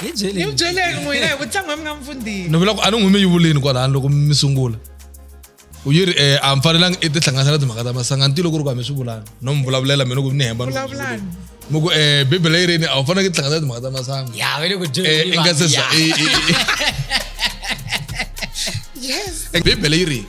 hi byeleni hi byeleni n'wina hi ku tlanga mi nga mi fundini ni vula ku a ni n'wi mi yivuleni kwalani loko mi sungula u yi ri um a mi fanelanga i tihlanganisa na timhaka ta masanga nti loko ri ku a mi swi vulani no mi vulavulela mina ku ni hemba vulavulani mi ku um bibele yi rini a wu faneleke i tihlanganisa na timhaka ta masanga ya ve le ku i nga se za yes bibele yi rini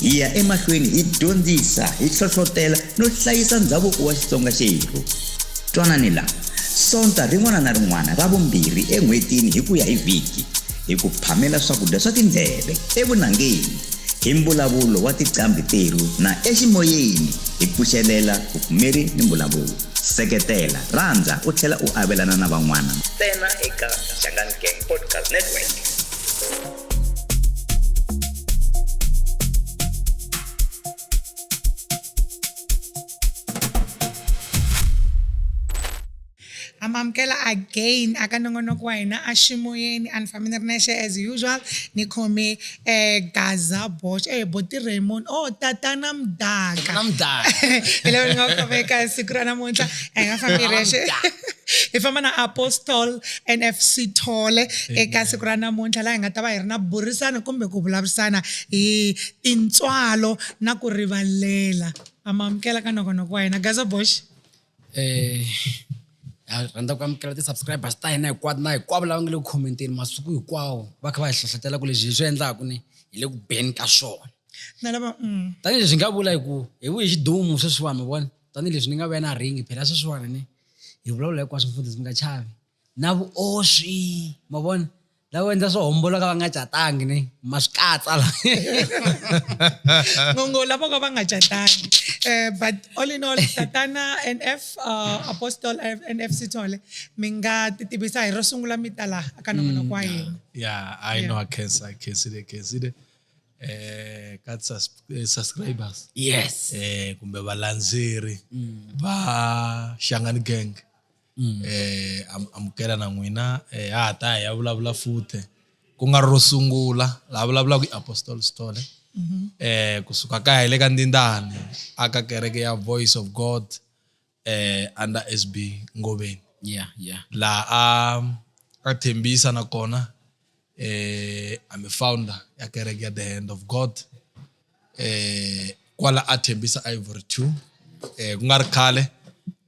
hi ya emahlweni hi dyondzisa hi hlohlotela no hlayisa ndhavuko wa xitsonga xerhu twanani la sonta rin'wana na rin'wana ra vumbirhi en'hwetini hi ku ya hi vhiki hi ku phamela swakudya swa tindleve evunangeni hi mbulavulo wa tiqambhi terhu na eximoyeni hi pfuxelela vupfumeri ni mbulavulo seketela rhandza u tlhela u avelana na van'wana ntsena eka xangani gang podcast network amamukela again aka nongonoko wa hina a ximoyeni a ni fambi ni ri nexe as usual ni khome eh gaza bosh eh boti raymond oh tatana mdaka na mdaka hi leyo ni nga khomeka siku ra namuntlha a hi nga fambi hi rexe hi famba na apostol NF Sithole eka siku ra namuntlha laha hi nga ta va hi ri na burisana kumbe ku vulavurisana hi tintswalo na ku rivalela a ma amukela ka nongonoko wa hina Gaza Bosh eh ha rhandza ku amukela ti-subscribers ta hina hinkwato na hinkwavo lava nga le ku khomenteni masiku hinkwawo va kha va hi hlohlotela ku leswi hi swi endlaku ni hi le ku beni ka swona na lava mm. tanihileswi hi nga vula hi ku hi vuye xidumu sweswiwani mi vona tanihileswi ni nga vuya na ringi phela sweswiwani ni hi vulavula hinkwaswo futhi ndzi nga chavi na vuoswi ma vona lavo endla swo homboloka va nga catangi ni ma swi katsa la ngongo lavo ka va nga catangi um but all in all tatana n f uh, apostle n f sithole mi nga ti tivisa hi ro sungula mi ta laha aka nongonoko wa mm, hina ya i know a khensile khensile eh, ka sus- eh, subscribers yes eh, kumbe valandzeri va xangani gang eh, am- amukela na n'wina eh, ha ha ta hi ya vulavula futhi ku nga ri ro sungula laha vulavulaka i apostol stole eh, kusuka kaya hi le ka ndindani aka kereke ya voice of god eh, under sb ngoveni yeah yeah laha a a thembisa nakona eh I'm a founder ya kereke ya the hand of god eh kwala a thembisa ivory 2 eh ku nga ri khale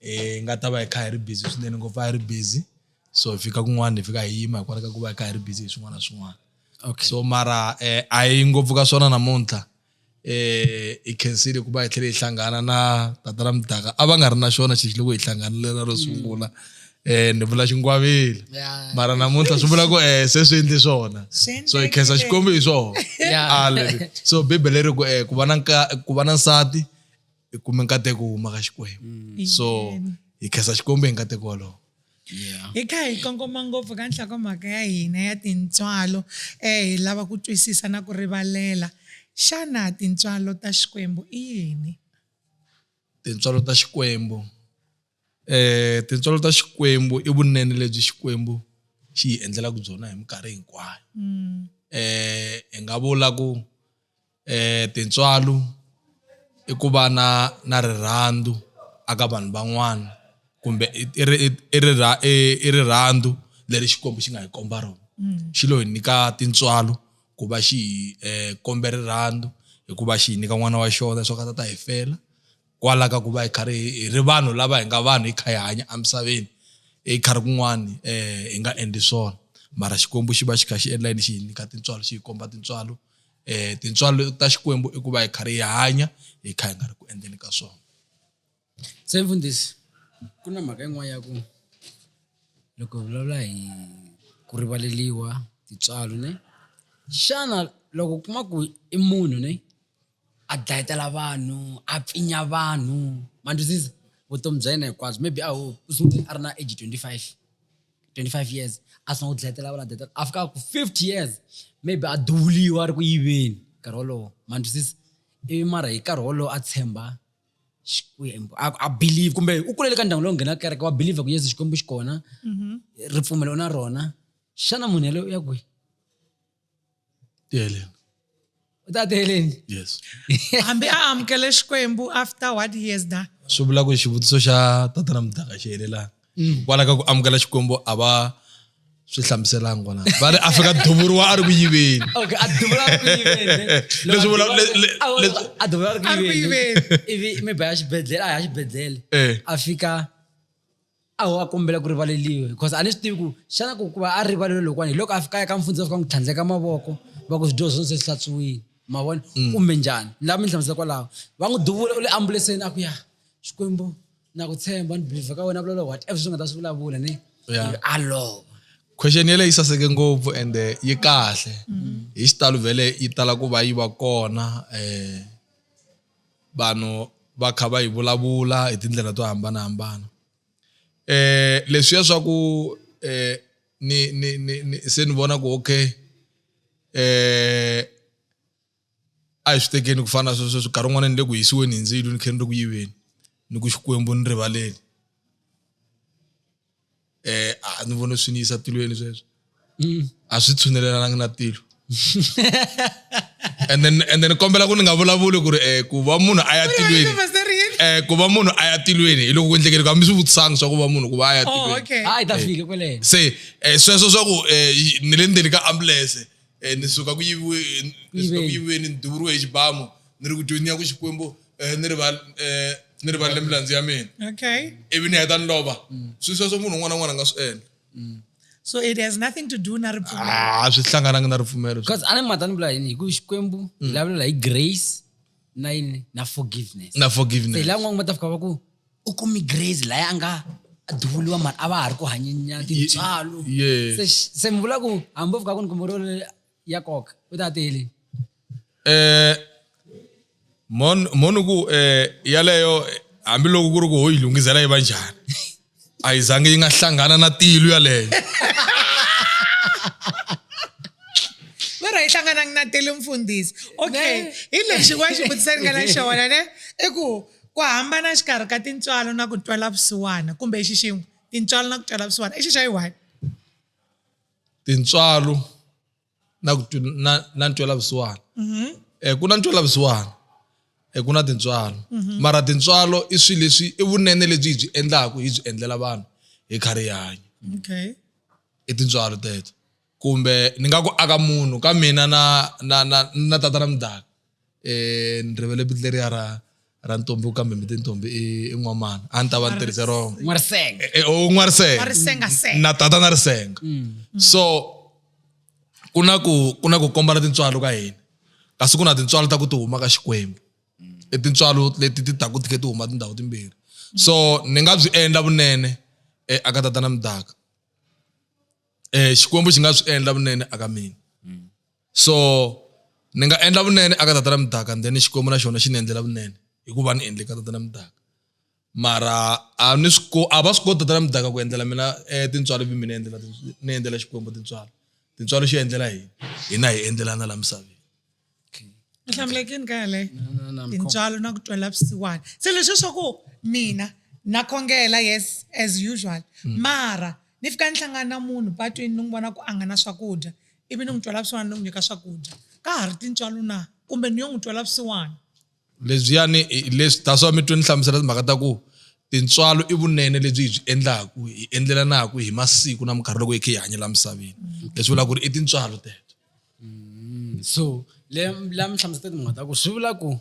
eh nga ta va hi kha hi ri busy swinene ngopfu a hi ri busy so hi fika kun'wana hi fika hi yima hikwalaho ka ku va hi kha hi ri busy hi swin'wana na swin'wana okay so mara eh a yi ngopfu ka swona namuntlha hi khensile ku va hi tlhele hi hlangana na tata ra mudaka a va nga ri na xona xexi loko hi hlanganile ro sungula um ni vula xingwavile mara namuntlha swi vula ku um se swi endli swona so hi khensa xikwembu hi swona so bibele ri ku um ku va na ku va na nsati i kume nkateko wo huma ka xikwembu so hi khensa xikwembu hi nkateko wolowo Yeah. hi kha hi kongoma ngopfu ka nhlokomhaka ya hina ya tintswalo um hi lava ku twisisa na ku rivalela xana tintswalo ta xikwembu i yini tintswalo ta xikwembu um tintswalo ta xikwembu i vunene lebyi xikwembu xi hi endlelaka byona hi minkarhi hinkwayo um hi nga vula ku tintswalo i ku va na na rirhandzu a ka vanhu van'wana kumbe i i ri i i i i rirhandzu leri Xikwembu xi nga hi komba rona xi lo hi nyika tintswalo ku va xi hi kombe rirhandzu hikuva xi hi nyika n'wana wa xona leswaku a ta ta hi fela kwala ka ku va hi karhi hi ri vanhu lava hi nga vanhu hi kha hi hanya emisaveni i khari kun'wani hi nga endli swona mara Xikwembu xi va xi kha xi endla yini xi hi nyika tintswalo xi hi komba tintswalo um tintswalo ta xikwembu i ku va hi karhi hi hanya hi kha hi nga ri ku endleni ka swona se mfundhisi ku na mhaka yin'wana ya ku loko hi vulavula hi ku rivaleliwa tintswalo ne xana loko u kuma ku i munhu ne a dlayetela vanhu a pfinya vanhu ma vutomi bya yena hinkwabyo maybe a ho u sungule a ri na age twenty five 25 years a sungula ku dlayetela vana data a fika ku 50 years maybe a duvuliwa a ri ku yiveni nkarhi wolowo ma twisisa ivi mara hi nkarhi wolowo a tshemba xikwembu a believe kumbe u kulele ka ndyangu lowu nghena kereke wa believe ku yesu xikwembu xi kona mhm. ripfumelo na rona xana munhu yaloye u ya kwihi Dylan. u ta teleni yes hambi a amukele xikwembu after what years da swi vula ku xivutiso xa tatana mudaka xi helelanga mm. kwala ka ku amukela xikwembu a va swi hlamuselanga kona va ri a fika duvuriwa a ri ku yiveni leswi vula a duvuriwa a ri ku yiveni ivi mi ba ya xibedhlele a ya xibedhlele eh. a fika a ho a kombela ku rivaleliwa because a ni swi tivi ku xana ku ku va a rivalelo lokwani hi loko a fikaya ka mfundza fika n'wi tlhandleka mavoko va ku swidyoho swo se swi hlatsuwile ma vona mm. kumbe njhani ni lava mi ni hlamusela kwalaho va n'wi duvula u le ambuleseni a ku ya xikwembu na ku tshemba ni believe ka wena vulavula what ever swi nga ta swi vulavula ni a lova question yele yi saseke ngopfu and eh, yi kahle mm. hi xitalo vhele yi tala ku va yi va kona um vanhu va kha va yi vulavula hi tindlela to hambanahambana eh leswiya swa ku eh ni ni ni ni se ni vona ku okay eh a hi swi tekeni ku fana na sweswo swi nkarhi wun'wana ni le ku hisiweni hi ndzilo ni khe ni ri ku yiveni ni ku xikwembu ni rivaleni. eh a ni vone swi ni yisa tilweni sweswo mm. a swi tshunelelanga na tilo and then and then kombela ku ni nga vulavuli ku ri eh ku va munhu a ya tilweni eh ku va munhu a ya tilweni hi loko ku endlekele ku hambi swi vutisanga swa ku va munhu ku va a ya oh, tilweni hayi ta fika kwelene se eh, sweswo swa ku eh, ni le ndzeni ka ambulance eh, ni suka ku yiviwe ni suka ku yiviweni ni duvuriwe hi xibamu ni ri ku dyoni ya ku xikwembu eh, ni rival eh, ni rivalele milandzu ya mina okay ivi ni heta ni lova swi sweswo munhu un'wana na un'wana a nga swi endla so it has nothing to do na ripfumelo Ah, a swi hlangananga na ripfumelo because a ni mhaka ni vula yini hi ku xikwembu hi lavulela hi grace na yini na forgiveness na se forgiveness la n'wangu va ta fika va ku u kumi grace laya a nga a duvuriwa mara a va ha ri ku hanyenya tintswalo Ye- yes. se se mi vula ku hambi o fika ku ni kumbe ro ya nkoka u ta tiyeleni eh mon mon ku eh yaleyo hambiloko ku ri ku ho yi lungisela yi va njhani a yi zangi yi nga hlangana na tilu yaleyo vero yi hlanganangi na tele mfundhisi okay hi lexi wa xi vutisa ri nga na xona ne i ku ku hambana xikarhi ka tintswalo na ku twela vusiwana kumbe xi xin'we tintswalo na ku twela vusiwana i xi xa yi one tintswalo na ku na na ntwela vusiwana mm-hmm. eh ku na ntwela vusiwana eh ku na tintswalo mm-hmm. mara tintswalo i swilo leswi i vunene lebyi hi byi endlaku hi byi endlela vanhu hi kha rihanyo okay i tintswalo teto kumbe ni nga ku aka munhu ka mina na na na na tata na mdaka eh, ni rivele vito leriya ra ra ntombi u kambe miti ntombi i i n'wamana a ni ta va ni tirhise rona n'warisenga Eh, eh, u n'warisenga N'warisengasenga. na tata na risenga so ku na ku ku na ku kombana tintswalo ka hina kasi ku na tintswalo ta ku ti huma ka xikwembu i tintswalo leti ti taku ti khe ti huma tindhawu timbirhi so ni nga byi endla vunene eh, aka tata na mdaka eh, xikwembu xi nga swi endla vunene aka mina so ni nga endla vunene aka tata na mudaka then xikwembu na xona xi ni endlela vunene hikuva ni endle ka tata na mudaka mara a ni swi a va swi koti tata na mudaka ku endlela mina eh, tintswalo vi mina endlela ni endlela xikwembu tintswalo tintswalo xi endlela hi hina hi endlelana la misaveni hlamulekini ka yaleyo tintswalo na ku twela vusiwana se leswi swa ku mina na khongela yes as usual mm. mara ni fika ni hlangana na munhu patwini ni n'wi vona ku a nga na swakudya ivi ni n'wi twela vusiwana ni n'wi nyika swakudya ka ha ri tintswalo na kumbe ni yo n'wi twela vusiwana lebyiyani leswi that's why mi twe ni hlamusela timhaka ta ku tintswalo i vunene lebyi hi byi endlaku hi endlelanaku hi masiku na minkarhi loko hi khe hi hanyela misaveni mm. leswi vula ku ri i tintswalo teto mm. so la mi hlamusela timhaka ta ku swi vula ku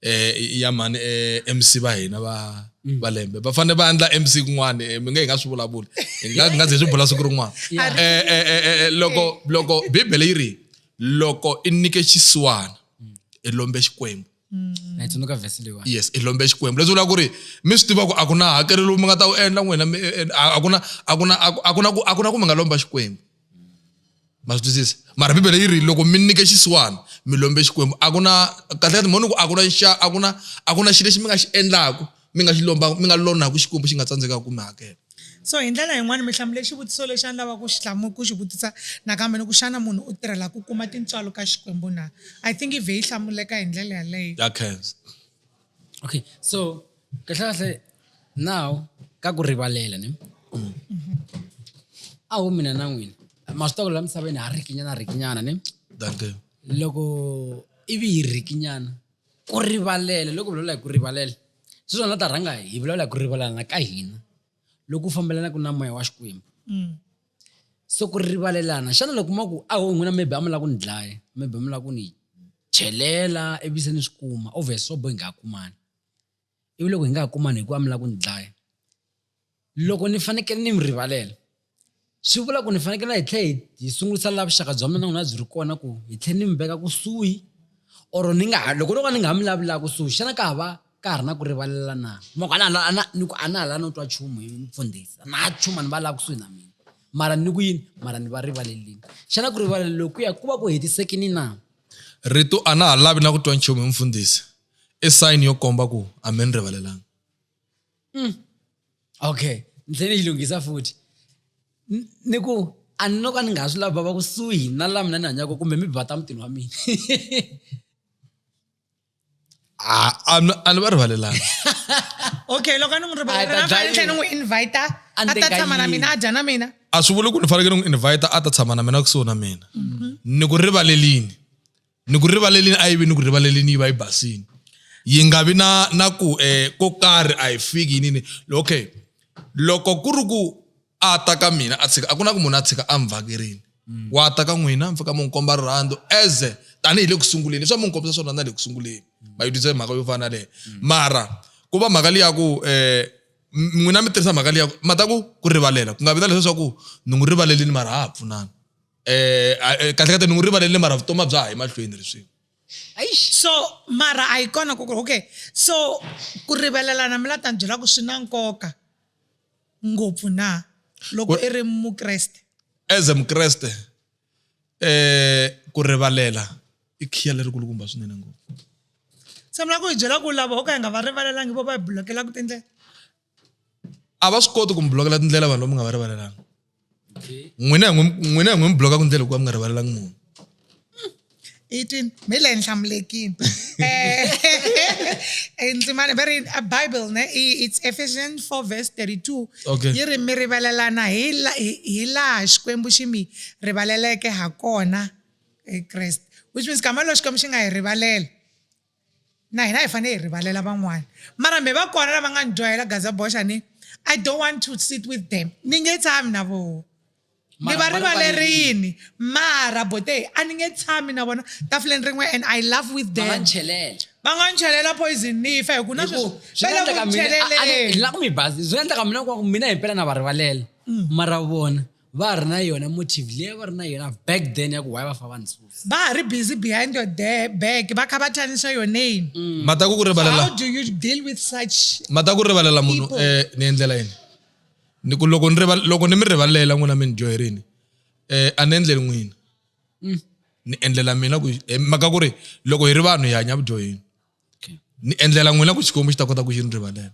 eh, ya mhani eh, mc va hina va mm. va lembe va fanele va endla mc kun'wana eh, mi nge hi nga swi vulavuli hi nga hi nga ze swi bula siku rin'wana eh, eh, eh, eh, loko loko bibele yi ri loko i nyike xisiwana mm. i lombe xikwembu mm. yes i lombe xikwembu leswi vula ku ri mi swi tiva ku a ku na hakelo lowu mi nga ta wu endla n'wina a ku na a ku na a ku na ku a ku na ku mi nga lomba xikwembu ma swi twisisa mara bibele yi ri loko mi nyike xisiwana mi lombe xikwembu a ku na kahle ka timhoni ku a ku na xa a ku na a ku na xilo lexi mi nga xi endlaku mi nga xi lomba mi nga lonaka xikwembu xi nga tsandzekaka ku mi hakela so hi ndlela yin'wana mi hlamule xivutiso lexi a ni lava ku xi hlamu ku xi vutisa nakambe ni ku xana munhu u tirhela ku kuma tintswalo ka xikwembu na i think ive yi hlamuleka hi ndlela yaleyo ya khensa okay so kahle kahle now ka ku rivalela ne a wu mina na n'wina masitoko la misaveni ha rikinyana rikinyana ne loko ivi hi rikinyana ku rivalela loko vulavula hi ku rivalela swi swona ta rhanga hi vulavula hi ku rivalana ka hina loku fambelanaka na moya wa xikwembu mm. so ku rivalelana xana loko ma ku a ho n'wina maybe a mi lava ku ni dlaya maybe mi lava ku ni chelela ivi se ni swi kuma obvious swo bo hi nga ha kumani ivi loko hi nga ha kumani hikuva mi lava ku ni dlaya loko ni fanekele ni mi rivalela swi vula ku ni fanekele hi tlhela hi sungurisa laha vuxaka bya mina na n'wina byi ri kona ku hi tlhela ni mi veka kusuhi or ni nga ha loko no ka ni nga ha mi lavi laha kusuhi xana ka ha va ka ha ri na ku rivalela na mako a na hala ni ku a na hala no twa nchumu hi mfundhisi na nchumu ni va lava kusuhi na mina mara ni ku yini mara ni va rivalelini xana ku rivalela loku ya ku va ku hetisekini na rito a na ha lavi na ku twa nchumu hi mfundhisi i sayini yo komba ku a mi ni rivalelanga mm. okay ni tlhele ni yi lunghisa futhi ni ku a ni no ka ni nga ha swi lava va kusuhi na la mina ni hanyaka kumbe mi bata mutini wa mina Ah, a ni- a ni va rivalelanga okay loko a ni n'wi A ta rivalela na dya fanele tlhe ni yini? n'wi invita A a ni ta teka tshama na yini? mina a dya na mina a swi vuli ku ni fanekele n'wi invite a ta tshama na mina kusuhi na mina ni ku rivalelini ni ku rivalelini a yi vi ni ku rivalelini yi va yi basini yi nga vi na na ku um ko karhi a yi fiki yinini okay loko ku ri ku a ta ka mina a tshika a ku na ku munhu a tshika a mi vhakerini mm. wa ta ka n'wina mi fika mi n'wi komba rirhandzu as tanihi le ku sunguleni leswi a mi n'wi kombisa swona na le ku sunguleni mm. ma yi dyondzisa mhaka yo fana leyo mm. mara ku va mhaka leyi ya ku eh, um n'wina mi tirhisa mhaka leyi ya ku ma ta ku ku rivalela ku nga vi na leswi swa ku ni n'wi rivalelini mara ha ha pfunana eh, eh kahle kahle ni n'wi rivalelini mara vutomi bya ha yi mahlweni leswi so mara a yi kona ku okay so ku rivalelana mi la ta ni byela ku swi na nkoka ngopfu na loko i ri mukreste as a mukreste eh ku rivalela i khiya lerikulukumba swinene ngopfu se mi lava ku hi byela ku lava ho ka hi nga va rivalelangi vo va hi bulokelaku tindlela a va swi koti ku mi bulokela tindlela vanhu lomi nga va rivalelanga n'wina n'wina hi n'wi mi bloka ku ndlela ku va mi nga rivalelangi munhu 18 mi le nhlamulekini eh, ndzimana va ri a bible ne it's ephesians 4 verse 32 okay. yi ri mi rivalelana hi laha xikwembu xi mi rivaleleke ha kona hi kreste which means kama lo xikwembu xi nga hi rivalela na hina hi fane hi rivalela van'wana mara me va kona lava nga ni dyohela gazaboxa ni i don't want to sit with them ni nge tshami na voho ni va rivalerini mara bote a ni nge tshami na vona tafuleni rin'we and i love with them va nga ni chelela poison ni fa hi ku na sweswivelakunichelela ku mi basi swi endlaka mina ku mina himpela na va rivalela mm. mara vona va ha ri na yona motive leyi a va ri na yona back then ya ku why va fa va ni susa va ha ri busy behind your de- back va kha va thanisa your name mata ku ku rivalela how do you deal with such mata ku rivalela munhu People. eh ni endlela yini ni ku loko ni rival loko ni mi rivalela n'wina mi ni dyoherini eh a ni endleli n'wina ni endlela mina ku eh, mhaka ku ri loko hi ri vanhu hi hanya vudyoheni ni endlela n'wina ku xikwembu xi ta kota ku xi ni rivalela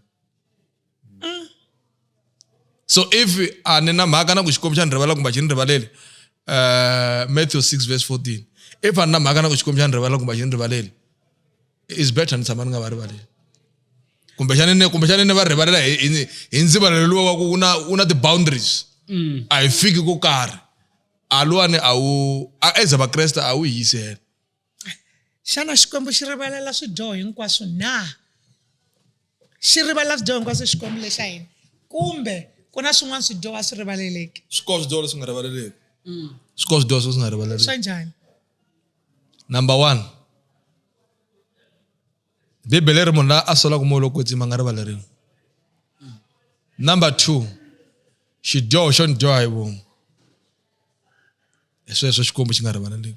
mm. so if a ni na mhaka na ku xikwembu xa ni rivalela kumbe a xi ni rivaleli uh, matthew 6 verse 14 if a ni na mhaka na ku xikwembu xa ni rivalela kumbe a xi ni rivaleli is better ni tshama ni nga va rivaleli kumbexani ni kumbexani ni va rivalela hi ndzivalelo luwa wa ku u na u na ti-boundaries mm. a hi fiki ko karhi a luwani a wu a eza vakreste a wu hi yisela xana xikwembu xi rivalela swidyoho hinkwaswo na xi rivalela swidyoho hinkwaswo xikwembu lexa hina kumbe ku na swin'wana swidyoho a swi rivaleleki swi koho swidyoho leswi nga rivaleleki mm. swi koho swidyoho leswi nga rivaleleki swa njhani number one bibele ri munhu la a solaka moya lowu kwetsima nga rivaleriwi number two xidyoho xo ni dyoha hi vomu hi sweswo xikwembu xi nga rivaleleki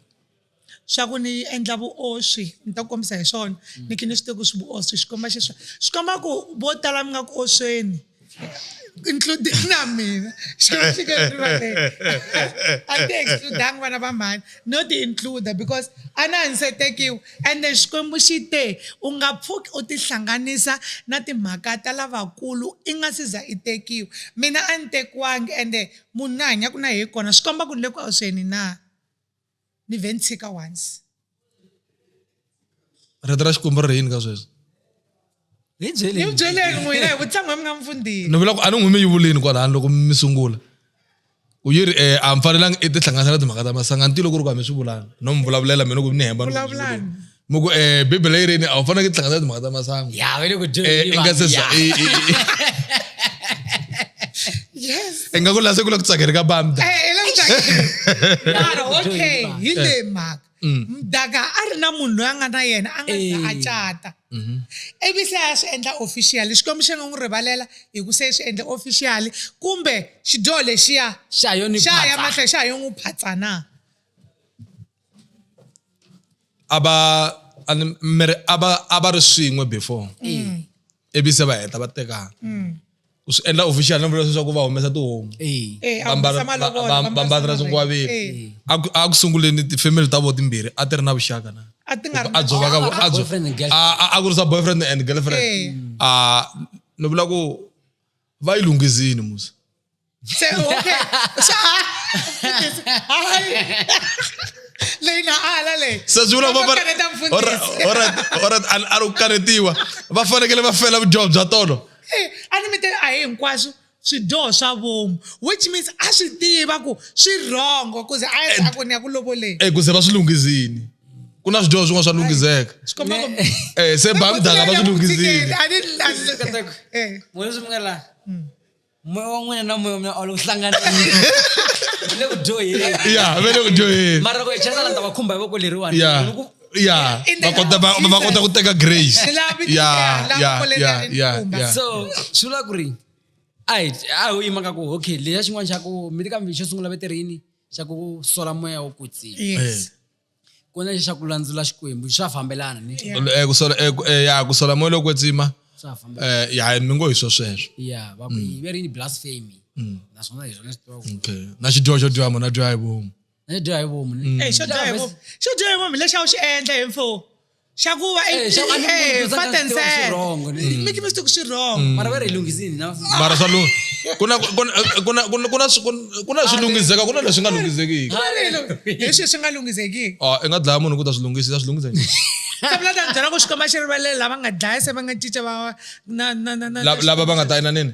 xa ku ni endla vuoswi ni ta kombisa hi swona ni khe ni swi tiva ku swi vuoswi xikomba xiswa swi komba ku vo tala mi nga ku osweni include na mina xifike rivaleni a ti excludanga vana va mhani no ti includa because a na ni se tekiwa ende xikwembu xi te u nga pfuki u tihlanganisa na timhaka ta lavakulu i nga si za i tekiwa mina a ni tekiwangi ende munhu ni hanyaka na yehe kona swi komba ku ni le ku antsweni na ni vhe ni tshika once rito ra xikwembu ri ri yini ka sweswo hi ni byeleni mi byeleni n'wina hi vutlango mi nga mi fundhini ni vula ku a ni n'wi mi yivuleni kwalani loko mi sungula ku yi ri eh, a mi fanelanga i tihlanganisa na timhaka ta masanga nti loko ri ku a mi swi vulanga no mi vulavulela mina ku ni hemba ni ku mi swi vuleni. vulavulani muku eh bibele yi rini a wu fanele ku tlhangana timhaka ta masangu ya ve le ku eh, i nga se za i nga ku lase ku la ku tsakela ka bamda mara okay hi le mhaka mm. mdaka a ri na munhu loyi a nga na yena a nga za a cata mm-hmm. ivi se a swi endla official xikwembu xi nga n'wi rivalela hi ku se swi endla official kumbe xidyoho lexiya xa ya mahlweni xa yo n'wi phatsa na a va a ni- mi ri- a va a va ri swin'we before ivi se va heta va tekana ku swi endla official no vula leswaku va humesa tihomu Eh, Eh, a humesa malovola, va ambala vambatela swimbalo. swinkwaveni Eh, a ku- a ku sunguleni tifamily ta vo timbirhi a ti ri na vuxaka na a ti nga ri a dzova ka vo- a dzo- Boyfriend and girlfriend. a- a- a kurisa boyfriend and girlfriend Eh. a ni vula ku va yi lunghizini musa Se, okay. Xa. Hayi. Leyi na ala leyi. se swi vula Va va- kaneta va- mfundhisi. Alright, alright, alright, a- a ri kanetiwa va fanekele va fela vudyoho bya tolo Eh, a ni mi te a hi hinkwaswo swidyoho swa vomu which means a swi tiva ku swi wrongo kuze a ya a ku ni ya ku lovoleni eku se va swi lunghizini ku na swidyoho swin'wana swa lungiseka xikomba ku um se ba mdaka va swi lunghisile a ni lahle Katseko, eh moya swi mi nga laha moya wa n'wina na moya wa mina a wu le ku hlanganeni Wu le ku dyoheni ya ve le ku dyoheni mara ku echesa la ta va khumba hi voko leriwani ya Ni ku- ya In the va kota va name of va kota ku teka grace Ni lava mi ya tiveka, lava ya koleni ya a ri ya nkumba. ya so swi vula ku ri a hi a ho yima ka ku okay leya xin'wana xa ku mi ri kambe xo sungula veterini xa ku sola moya wo kwetsima yes Eh. ku na lexi xa ku landzula xikwembu swa fambelana ni Eh, ku sola- eh, ku- eh, ya ku sola moya loko kwetsima swa fambelana eh, ya mi ngo hi swo sweswo ya va ku yi veri ni blasphemy naswona hi swona swi tiva ku okay na xidyoho xo dyoha munhu a dyoha hi vomu na dyoha hi vomu ni- Eh, xo dyoha hi vomu xo dyoha hi vomu lexi a wu xi endla hi mfo xa ku va Eh, xa ku- a ni ku eh, dyondzanga fact and swi tiva swi sad. wrong, ne? Mm. Make mistake swi wrong mara va ri hi lunghisini na mara swa lung- ku na- ku na- ku na- ku na- ku na swi- ku na- ku na swi lungiseka ku na leswi nga lunghisekiki leswi swi nga lunghisekiki Ah, i nga dlaya munhu ku ta swi lunghisa i ta swi lunghisa njhani? se vula ta byela ku xikomba xi rivalele lava nga dlaya se va nga cinca va na na na na La- lava va nga ta inaneni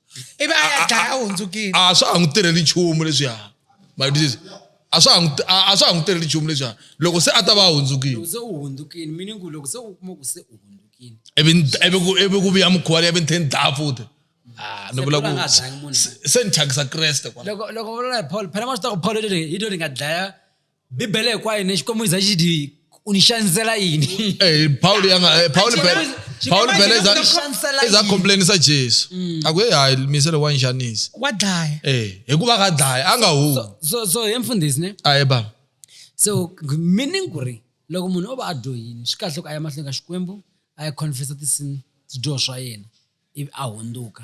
ivi a ya dlaya a hundzukile a swa ha n'wi tirheli nchumu leswiya my disease a swa ha n'wi- a a swa ha n'wi tirheli nchumu leswiya loko se a ta va a hundzukile loko se u hundzukile meaning ku loko se u kuma ku se u hundzukile ivi ni- ivi ku- ivi ku vuya mukhuva leyi ivi ni tlhe ni dlaya futhi Ah, ni Se vula Paul a nga ha dlayangi ku munhu. se- se ni thyakisa kreste kwala loko loko u vula hi paul phela ma swi ta ku paul i to ri- i to ri nga dlaya bibele hinkwayo ni xikwembu za xi dyi u ni xanisela yini Eh, Paul yanga eh, Paul Actually, Pele was- she Paul came Pele out za with the chancellor za in. complain sa Jesu. Aku hey hayi misele wa njanisa. wa dlaya Eh, hikuva ka dlaya anga hu. so so he mfundhisi ne Ayi baba. so meaning ku ri loko munhu o va a dyohile swi kahle ku a ya mahlweni ka xikwembu a ya confessa tisin swidyoho swa yena ivi a hundzuka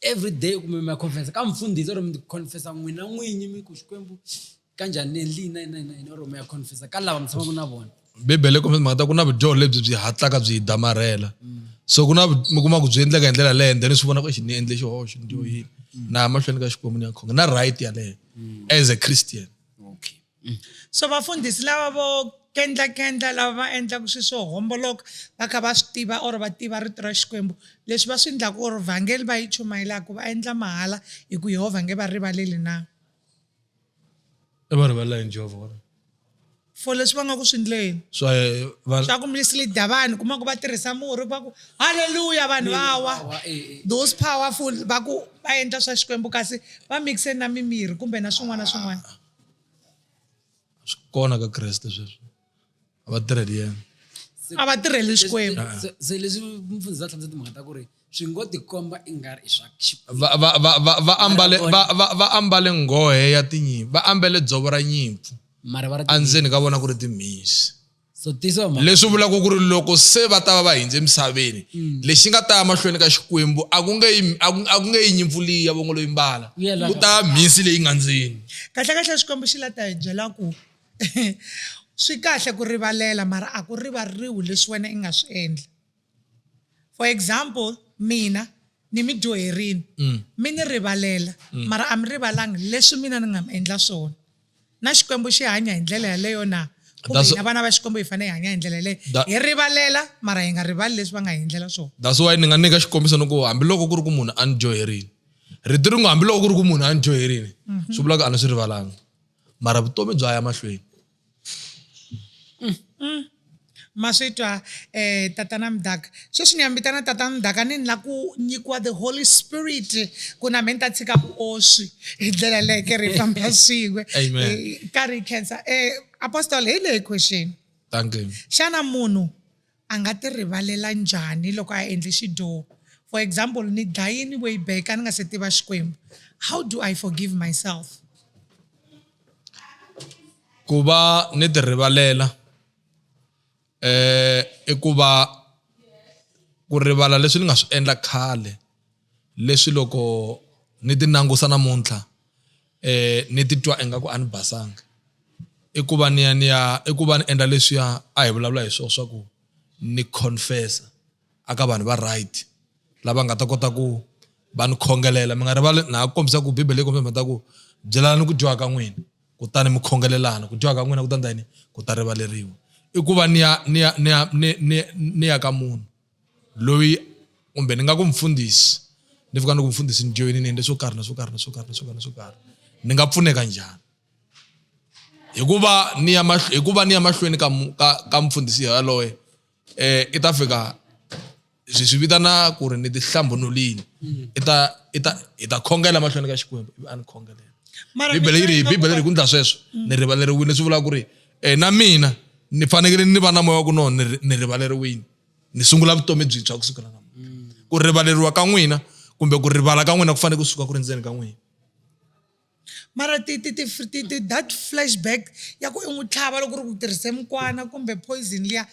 everyday kumbe mi ya confessa ka mfundhisi or mi confessa n'wina n'winyi mi ku xikwembu ka njhani ni endli yini na yini na yini or mi ya confessa ka lava mi tshamaka na vona bibele kumbe mhaka ta ku na vudyoho lebyi byi hatlaka byi hi damarhela so ku na mi kuma ku byi endleka hi ndlela leyo then swi vona ku ni endle xihoxo ndiyo yini na mahlweni ka xikwembu ni ya khonga na right yaleyo as a christian Mm. So vafundhisi lava vo kendlakendla lava va endlaka swilo swo homboloka va kha va swi tiva or va tiva rito ra xikwembu leswi va swi endlaka or vhangeli va yi chumayelaka va endla mahala hi ku yehovha nge va rivaleli na va rivalela yini jehovha vona for leswi va nga ku swi ndleni swa ku mislida vanhu kuma ku va tirhisa murhi va ku halleluya vanhu va wa eh, eh. those powerful va ku va endla swa xikwembu kasi va mixe na mimirhi kumbe na swin'wana na swin'wana swi kona ka kreste sweswo a va tirheli yena a va tirheli xikwembu se se leswi mfundhisi a hlamusela timhaka ta ku ri swi ngo tikomba i nga ri i swa xi- va va va va va ambale va va va ambale nghohe ya tinyimpfu va ambale dzovo ra nyimpfu mara va ri endzeni ka vona ku ri timhisi so leswi vulaka ku ri loko se va ta va va hindze emisaveni mm. lexi nga ta ya mahlweni ka xikwembu a ku nge a ku nge yi nyimpfu leyi ya vongo loyi mbala ku ta ya mhisi leyi nga ndzeni kahlekahle xikwembu xi la ta hi byela ku swi kahle ku rivalela mara a ku rivaleriwi leswi wena i nga swi endla for example mina ni mi dyoherini mm. mi ni rivalela mm. mara a mi rivalangi leswi mina ni nga mi endla swona na xikwembu xi hanya hi ndlela yaleyo na kumbe hina vana va xikwembu hi fanele hi hanya hi ndlela yaleyo hi rivalela mara hi nga rivali leswi va nga hi endlela swona that's why ni nga nyika xikombiso ni ku hambiloko ku ri ku munhu a ni dyoherini rito ringo hambiloko ku ri ku munhu a ni dyoherini mhm. swi vulaka a ni swi rivalanga mara vutomi bya ya mahlweni Ma swi twa um tatana Mdaka. Sweswi ni ya mi vitana tatana Mdaka ni ni la ku nyikiwa the Holy Spirit ku na me ni ta tshika vuoswi hi ndlela yaleyo ke ri hi famba swin'we ka ri khensa um Apostle hi leyi question xana munhu A nga ti rivalela njhani loko a endle xidyoho? For example, ni dlaye ni way back a ni nga se tiva Xikwembu. How do I forgive myself? Ku va ni ti rivalela i ku va ku rivala leswi ni nga swi endla khale leswi loko ni ti langusa namuntlha. eh ni titwa ingaku a ni basanga i ku va ni ya ni ya i ku va ni endla leswiya a hi vulavula hi swona swa ku ni confessa a ka vanhu va right lava nga ta kota ku va ni khongelela mi nga rivali na ha kombisa ku bibele yi kombisa mhaka ku byelani ku dyiwa ka n'wina kutani mi khongelelana ku dyiwa ka n'wina ku ta endla yini ku ta rivaleriwa i ku va ni ya ni ya ni ya ni ni ni ya ka munhu loyi kumbe ni nga ku mfundhisi ni fika ni ku mfundhisi ni joyinini endle swo karhi na swo karhi na swo karhi na swo karhi na swo karhi ni nga pfuneka njhani hikuva ni ya hikuva ni ya mahlweni ka ka ka mfundhisi yaloye um i ta fika swi swi vitana ku ri ni ti hlambunulini mm. i ta i ta hi ta khongela mahlweni ka xikwembu ivi a ni khongelela bibele yi ri bibele ri ku ndla sweswo mm. ni rivaleriwile swi vula ku ri um na mina ni fanekele ni va na moya wa ku no ni rivaleriwile ni sungula vutomi byintshwa kusuka la mm. ku rivaleriwa ka n'wina kumbe ku rivala ka n'wina ku fanele ku suka ku ri ndzeni ka n'wina mara ti ti ti ti ti that flashback ya ku i n'wi tlhava loko ri ku tirhise mukwana kumbe poison liya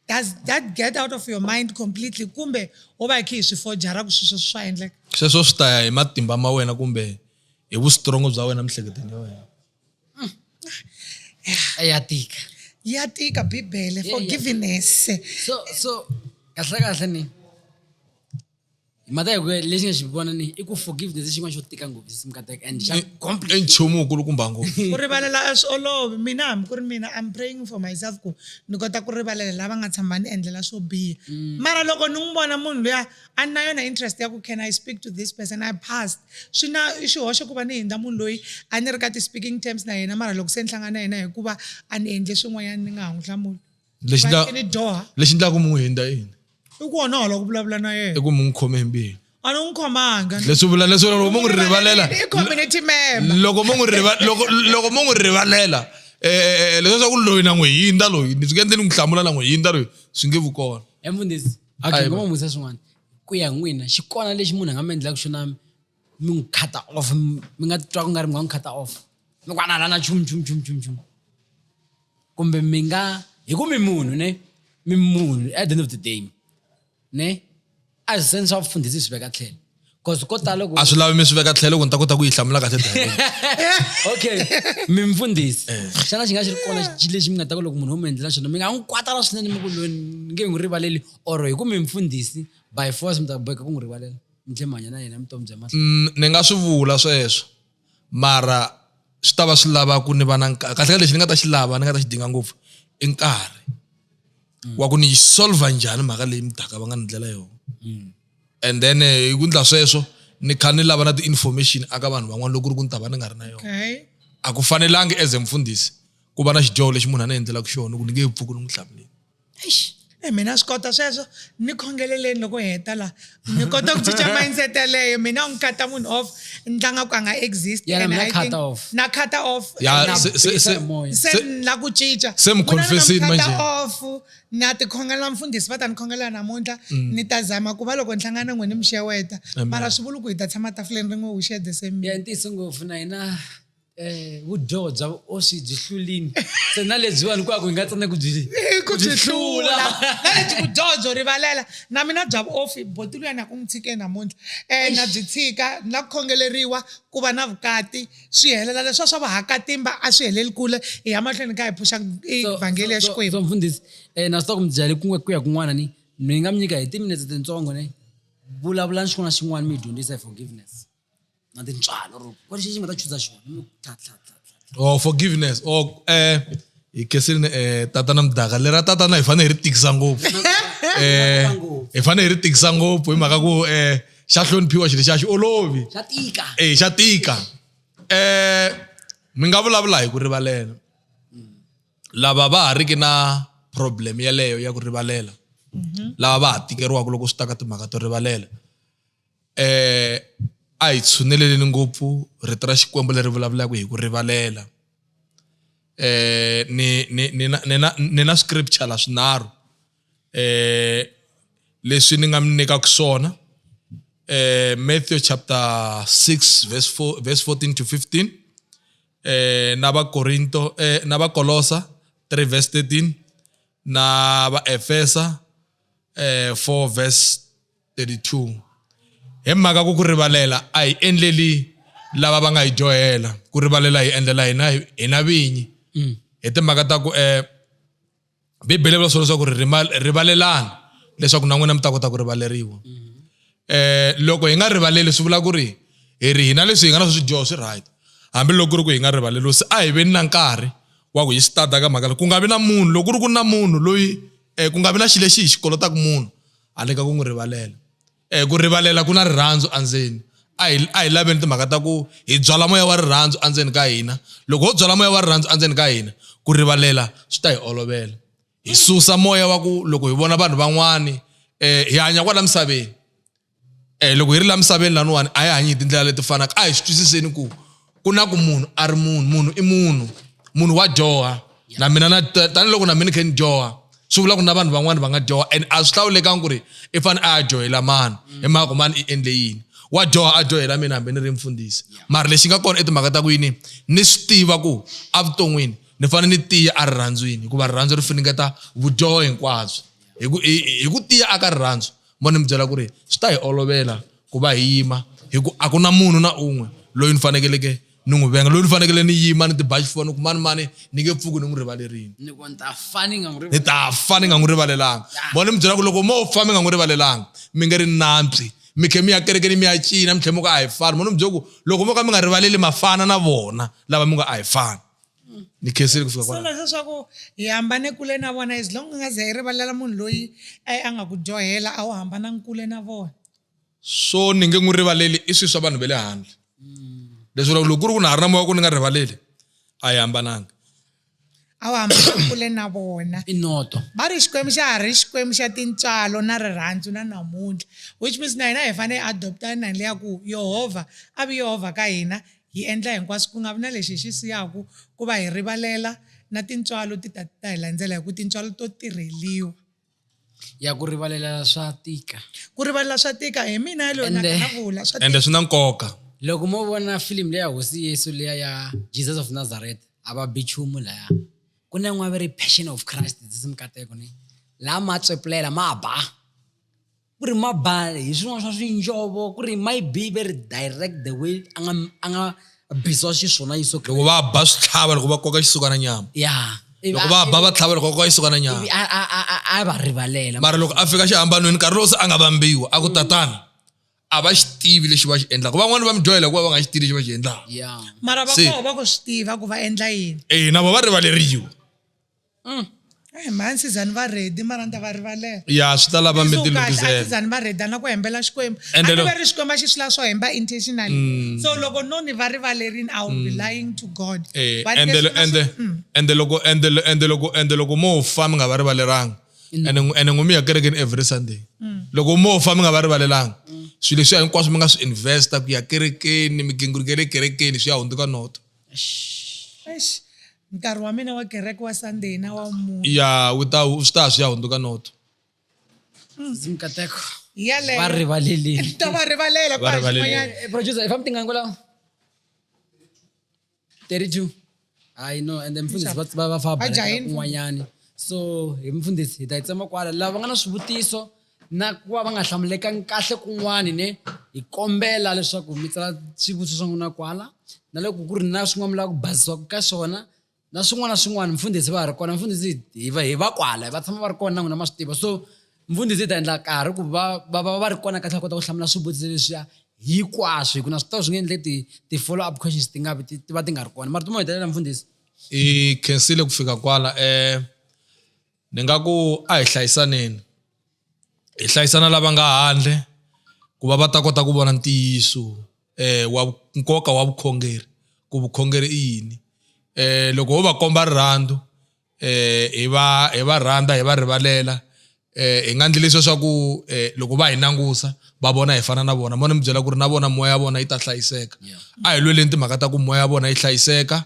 does that get out of your mind completely kumbe wo va khe hi swi fojara ku sweswo swa endleka sweswo swi ta ya hi matimba ma wena kumbe hi vustrongo bya wena miehleketweni ya wena a ya tika ya tika bibele forgiveness so so kahle kahle ni mhaka ya ku lexi nga xi vona ni i ku forgiveness i xin'wana xo tika ngopfu simkateka and xa i nchumu wukulu kumba ngopfu ku rivalela a swi olovi mina hambi ku ri mina i'm praying for myself ku ni kota ku rivalela lava nga tshama ni endlela swo biha mm. mara loko ni n'wi vona munhu luya a ni na yona interest ya ku can i speak to this person i passed swi na i xihoxo ku va ni hindza munhu loyi a ni ri ka ti-speaking terms na yena mara loko se ni hlangana na yena hikuva a ni endle swin'wanyana ni nga ha n'wi hlamuli lexi Va ndla- ni dyoha lexi ndlaku mi n'wi hindza yini i ku onhola ku vulavula na i yena ku mi n'wi khome hi mbilu a ni n'wi khomanga leswi vula leswi loko mo n'wi rivalela i community member loko mo n'wi riva- loko- loko mo n'wi rivalela um leswaku loyi na n'wi hindza loyi ni swi nge ndzi ni n'wi hlamula na n'wi hindza loyi swi nge vu kona emfundhisi okay Ayiwa. ngoma n'wi vutisa swin'wana ku ya hi n'wina xi kona lexi munhu a nga mi endlaka xona mi mi n'wi khata off mi mi nga titwa ku nga ri mi nga n'wi khata off mi ku anala na chumu chumu chumu chumu chumu kumbe mi nga hi ku mi munhu ne mi munhu at the end of the day ne a hi seni swa vufundhisi hi swi veka tlhelo cause ko tala ku a swi lavi mi swi veka tlhelo ku ni ta kota ku yi hlamula kahle direct. okay mimfundhisi Eh. xana xi nga xi ri kona xi lexi mi nga ta ku loko munhu wo mi endlela xona mi nga n'wi kwatala swinene mi ku loyi ni nge n'wi rivaleli or hi ku mimfundhisi by force mi ta boheka ku n'wi rivalela mi tlhe mi hanya na yena vutomi bya mahlweni Mm, ni nga swi vula sweswo mara swi ta va swi lava ku ni va na nkarhi kahlekahle lexi ni nga ta xi lava ni nga ta xi dinga ngopfu i nkarhi wa ku ni yi solver njhani mhaka leyi mudaka va nga ni ndlela yona and then eh, hi ku ndla sweswo ni kha ni lava na ti-information aka vanhu van'wana loko ku ri ku ni ta va ni nga ri na yona a ku fanelangi as a mfundhisi ku va na xidyoho lexi munhu a ni endlelaka xona ku ni nge pfuki ni n'wi hlamuleli eish e mina swi kota sweswo ni khongeleleni loko hi heta laha ni kota ku cinca mindset yaleyo mina u ni kata munhu off ni tlanga ku a nga exist Yeah, and na I cut think- off. na cut off Ya, Na se- se- bisa se- moya. se se- ni la ku cinca se mi confess-ini Mina ni nga manje. mu-cut off na tikhongela mfundhisi va ta ni khongela namuntlha Mm. ni ta zama ku va loko ni hlangana n'we ni mi xeweta mara swi vuli ku hi ta tshama tafuleni rin'we wu share the same meal. ya ntiyiso ngopfu na hina Eh, vudyoho bya vuoswi byi hlulini ntsena lebyiwani ku a ku hi nga tsana ku byi Eh, ku byi hlula na lebyi vudyoho byo rivalela na mina bya vuofi boti luyani a ku n'wi tshike namuntlha um na byi tshika na ku khongeleriwa ku va na vukati swi helela leswiwa swa vahakatimba a swi heleli kule hi ya mahlweni hi kha hi pfuxa vhangeli ya xikwembu so mfundhisi um na swi ta ku mi byale ku ku ya kun'wana ni mi nga mi nyika hi timinetse tintsongo ni vulavulani xin'wana na xin'wana mi hi dyondzisa hi forgiveness na tintswalo or ku lexi xi nga ta chuza xona mi tlha tlha tlha tlha or forgiveness or eh hi kesini eh tatana mdaka lera tatana hi fanele hi ri tikisa ngopfu eh hi fanele hi ri tikisa ngopfu hi mhaka ku eh xa hloniphiwa xilo xa xi olovi xa tika eh xa tika eh mi nga vulavula hi ku rivalela lava va ha riki na problem yeleyo ya ku rivalela lava va ha tikeriwaka loko swi ta ka timhaka to rivalela eh a hi tshuneleleni ngopfu rito ra xikwembu leri vulavulaka hi ku rivalela eh ni ni ni na ni na ni na scripture la swinharhu eh leswi ni nga mi nyikaka swona eh Matthew chapter 6 verse 4 verse 14 to 15 eh na va Korinto eh na va Kolosa 3 verse 13 na va Efesa eh 4 verse 32 Hi mhaka ku ku rivalela a hi endleli lava va nga hi dyohela ku rivalela hi endlela hina hina vinyi mm. hi timhaka ta ku eh bibele vula swona leswaku rivalelani leswaku na n'wina mi ta kota ku rivaleriwa mm-hmm. eh loko hi nga rivaleli swi vula ku ri hi ri hina leswi hi nga na swi swidyoho swi right hambiloko ku ri ku hi nga rivaleli se a hi veni na nkarhi wa ku hi swi tada ka mhaka ku nga vi na munhu loko ku ri ku na munhu loyi um ku nga vi na xilo lexi hi xi kolotaku munhu handle ka ku n'wi rivalela um ku rivalela ku na rirhandzu endzeni a hi a hi laveni timhaka ta ku hi byala moya wa rirhandzu endzeni ka hina loko ho byala moya wa rirhandzu endzeni ka hina ku rivalela swi ta hi olovela hi susa moya wa ku loko hi vona vanhu van'wani um hi hanya kwala misaveni um loko hi ri la misaveni laniwani a hi hanyi hi tindlela leti fanaka a hi swi twisiseni ku ku na ku munhu a ri munhu munhu i munhu munhu wa dyoha na mina na tanihiloko na mina khe ni dyoha swi vula ku na vanhu van'wani va nga dyoha and a swi hlawulekangi ku ri i fane a ya dyohela mani mm. hi mhaka ku mani i endle yini wa dyoha a dyohela mina hambi ni ri mfundhisi mara lexi nga kona i timhaka ta ku yini ni swi tiva ku evuton'wini ni fanele ni tiya a rirhandzwini hikuva rirhandzu ri finingeta vudyoho hinkwabyo hi ku tiya aka rirhandzu mo ni mi byela ku ri swi ta hi olovela ku va hi yima hi ku a ku na munhu na un'we loyi ni fanekeleke ni n'wi venga loyi ni fanekele ni yima ni tiba xifuwa ni ku mani mani ni nge pfuki ni n'wi rivalerini ni ta fa ni nga n'wi rivalelanga mo ni mi byela ku loko mo fa mi nga n'wi rivalelanga mi nge ri nantswi mi khe mi ya kerekeni mi ya cina mi tlhe mi ku a hi fani mo ni mi byela ku loko mo ka mi nga rivaleli mafana na vona lava mi nga a hi fani mm. ni khensile kusuka so leswi leswaku hi hambane kule na vona as long nga ze hi rivalela munhu loyi a a nga ku dyohela a wu hambanangi kule na vona so ni nge n'wi rivaleli i swilo swa vanhu va le handle mm. leswi vula loko ku ri ku na ha ri na moya ku ni nga rivaleli a hi hambananga a wu hambana kule na vona i noto va ri xikwembu xa ha ri xikwembu xa tintswalo na rirhandzu na namuntlha which means na hina hi fanele hi adopta nani leya ku yehovha a vi yehovha ka hina Hi endla hinkwaswo ku nga vi na lexi hi xi siyaka ku va hi rivalela, na tintswalo ti ta ti ta hi landzela, hikuva tintswalo to tirheriwa. Ya ku rivalela swa tika. Ku rivalela swa tika. Hi mina yaloye na Ende- vulavula swa ende tika. swi na nkoka loko mo vona filimu leya hosi yesu leya ya jesus of nazareth a va bi chumu laya ku na yin'wana va ri passion of christ dzisi mikateko ni laha ma tswepulela ma ba ku ri ma ba hi swin'wana swa swinjovo ku ri ma yi be very direct the way a nga a nga biziwa xiswona yeso loko va ba swi tlhava loko va koka xisukana nyama ya loko va ba va tlhava loko va koka xisukana nyama a va rivalela mara loko a fika xihambanweni nkarhi lowu se a nga vambiwa a ku mm. tatana a va xi tivi lexi va xi endlaka van'wani va mi dyohela hikuva va nga xi tivi lexi va xi endlaka mara va koho va ku swi tiva ku va endla yini eyi na vo va rivaleriwa Mm. Hey, eh, mhani sizani va redi mara ni ta va rivalela ya swi ta lava mitilukisizani va redi ana ku hembela xikwembu anive ri xikwembu a xi swi lava swo hemba intentionally mm. so loko no ni va rivalerini i will be mm. lying to god eh, ende loko ende loko ende loko mo fa mi nga va rivaleranga ene n'wi mi ya kerekeni every sunday mm. loko mo fa mi nga va rivalelanga swilo leswiya hinkwaswo mi nga swi investa ku ya kerekeni migingiriko ya le kerekeni swi ya hundzuka noto Eish, nkarhi wa mina wa kereke wa sunday na wa mune ya wu ta swi ta swi ya hundzuka noto Sisi Mkateko. hi yaleyo Va rivaleleni. to va rivalela Va kwa rivalele. xin'wanyana Eh, producer, if I'm thinking Angola. 32. I know, and then mfundhisi va va va fa Vajahile. kun'wanyani. So, hi mfundhisi hi ta yi tsema kwala. Lava nga na swivutiso na ku va va nga hlamulekangi kahle kun'wani ne hi kombela leswaku mi tsala swivutiso swa n'wina kwala na loko ku ri na swin'wana mi lava ku bazisiwaka ka swona na swin'wana na swin'wana mfundhisi va ha ri kona mfundhisi hi va hi va kwala va tshama va ri kona na n'wina ma swi tiva so mfundhisi hi ta endla karhi ku va va va va ri kona kahle va kota ku hlamula swivutiso leswiya hikwaswo hi ku na swi tiva swi nge endle ti ti-follow up questions ti nga vi ti ti va ti nga ri kona mara ti mo hetelela mfundhisi hi khensile ku fika kwala um ni nga ku a hi hlayisaneni hi hlayisana lava nga handle ku va va ta kota ku vona ntiyiso eh wa nkoka wa vukhongeri ku vukhongeri i yini eh loko ho va komba rirhandzu eh hi va hi va rhandza hi va rivalela eh hi nga ndli leswi swa ku eh loko va hi nangusa va vona hi fana na vona mo ni mi byela ku ri na vona moya ya vona yi ta hlayiseka a hi lweleni timhaka ta ku moya ya vona yi hlayiseka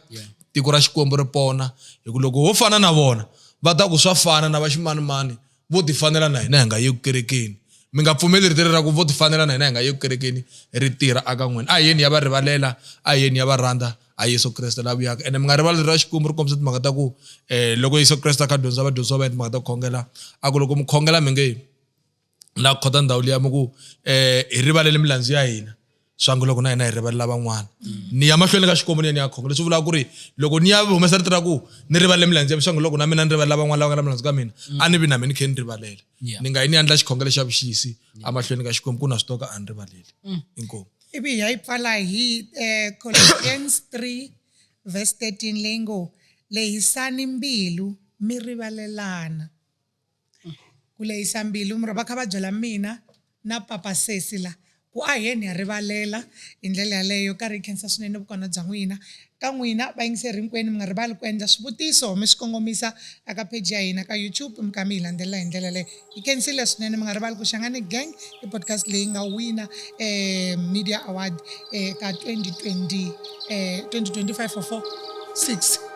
Tiko ra Xikwembu ri pona, hi ku loko ho fana na vona, va ta ku swa fana na vaximanimani vo tifanela na hina hi nga yeku kerekeni. Mi nga pfumeli rito leri ra ku vo tifanela na hina hi nga yeku kerekeni ri tirha aka n'wina. A hi yeni hi ya va rivalela, a hi yeni hi ya va rhandza, a hi Yesu Kreste la vuyaka. Ene mi nga rivali rito ra Xikwembu ri kombisa timhaka ta ku, loko Yesu Kreste a kha a dyondzisa vadyondzisiwa va yena timhaka ta ku khongela, a ku, Loko mi khongela mi nge. la ku khota ndhawu liya mi ku eh hi rivalele milandzu ya hina swa ngo loko na hina hi rivalela van'wana ni ya mahlweni ka xikwembu ni ya ni ya khonga leswi vulaka ku ri loko ni ya humesa rito ra ku ni rivalele milandzu ya mi swa ngo loko na mina ni rivalela van'wana lava nga na milandzu ka mina a ni vi na mina ni khe ni rivalela Yeah. ni nga yi ni yandla xikhongelo xa vuxisi emahlweni ka xikwembu ku na swi toka a ni rivaleli inkomu ivi hi ya yi pfala hi eh, Colossians 3 verse 13 leyi ngo lehisani mbilu mi rivalelana Ku lehisa mbilu mi ri va kha va byela mina na papa sesi la ku a hi yeni hi ya rivalela hi ndlela yaleyo karhi hi khensa swinene vukona bya n'wina ka n'wina vayingiseri hinkwenu mi nga rivali ku endla swivutiso mi swi kongomisa a ka page ya hina ka YouTube mi kha mi hi landzelela hi ndlela yaleyo hi khensile swinene mi nga rivali ku Shangani Gang i podcast leyi nga wina um media award eka 2020 um 2025 or 4 6